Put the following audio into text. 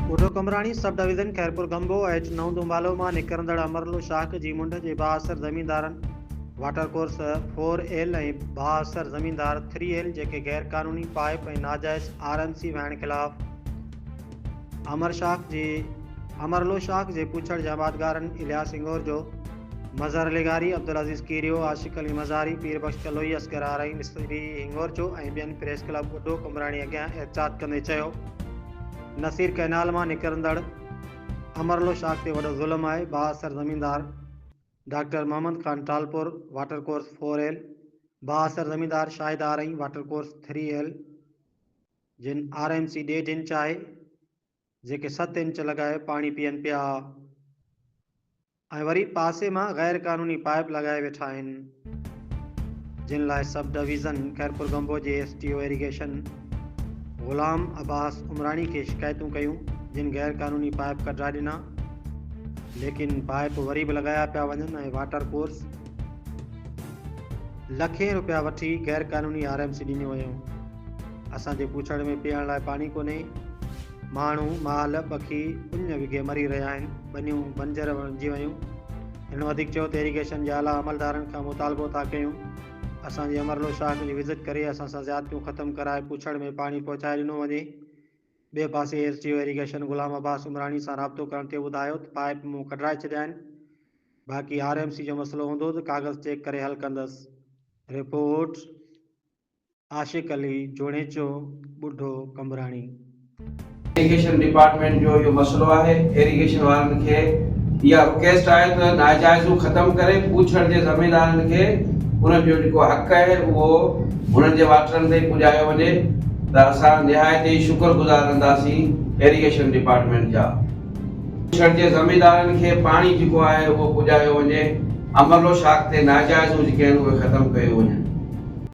ٻڍو قمبراڻي sub division Khairpur Gambo H نو دونڀالو مان نڪرندڙ امرلو شاخ جي منڍ جي بااثر زميندارن واٽر ڪورس فور ايل ۽ بااثر زميندار ٿري ايل جيڪي غير قانوني پائيپ ۽ ناجائز آر اين سي وهائڻ خلاف امر شاخ جي امر لو شاخ جي پڇڙ جي آبادگارن الياس هنگورجو، مظهر لغاري، عبدالعزيز ڪيريو، عاشق علي مزاري، پير بخش ڪلوئي، اصغر آرائي، مصري هنگورجو ۽ ٻين پريس ڪلب ٻڍو قمبراڻي اڳيان احتجاج ڪندي چيو نصير ڪئنال مان نڪرندڙ امر لو شاخ تي وڏو ظلم آهي بااثر زميندار doctor Muhammad Khan Talpur water course four L, بااثر زميندار Shahid Arain water course three L, جن آر ايم سي ڏيڍ انچ آهي، جيڪي ست انچ لڳائي پاڻي پيئن پيا ۽ وري پاسي مان غير قانوني پائيپ لڳائي ويٺا آهن، جن لاء سب ڊويزن خيرپورگمبو جي S D O irrigation Ghulam Abbas Umrani کي شڪايتون ڪيون، جن غير قانوني پائيپ ڪڍرائي ڏنا، ليڪن پائيپ وري به لڳايا پيا وڃن ۽ واٽر ڪورس. لکين روپيا وٺي غير قانوني آر ايم سي ڏنيون ويون اسان جي پوڇڙ ۾ پيئڻ لاء پاڻي ڪونهي ماڻهو مال پکي اڃ وگهي مري رهيا آهن ٻنيون بنجر بڻجي ويون هن وڌيڪ چيو ته ايريگيشن جي اعليٰ عملدارن کان مطالبو ٿا ڪيون اسان جي امرلو شاخ جي وزٽ ڪري اسان سان زيادتيون ختم ڪرائي پوڇڙ ۾ پاڻي پهچائي ڏنو وڃي ٻئي پاسي S D O irrigation Ghulam Abbas Umrani سان رابطو ڪرڻ تي ٻڌايو ته پائيپ مون ڪڍرائي ڇڏيا آهن، باقي آر ايم سي جو مسئلو هوندو ته ڪاغذ چيڪ ڪري حل ڪندس. رپورٽ، عاشق علي جوڻيچو، ٻڍو قمبراڻي. ايريگيشن ڊپارٽمينٽ جو اهو مسئلو آهي، ايريگيشن وارن کي اها رڪويسٽ آهي ته ناجائزون ختم ڪري پوڇڙ جي زميندارن کي انهن جو جيڪو حق آهي اهو هنن جي واٽرن تائين پڄايو وڃي ته اسان نهايت ئي شڪر گذار رهنداسين ايريگيشن ڊپارٽمينٽ جا. ڇڙ جي زميندارن کي پاڻي جيڪو آهي اهو پڄايو وڃي، امرلو شاخ تي ناجائز هجڪين اهي ختم ڪيو وڃن.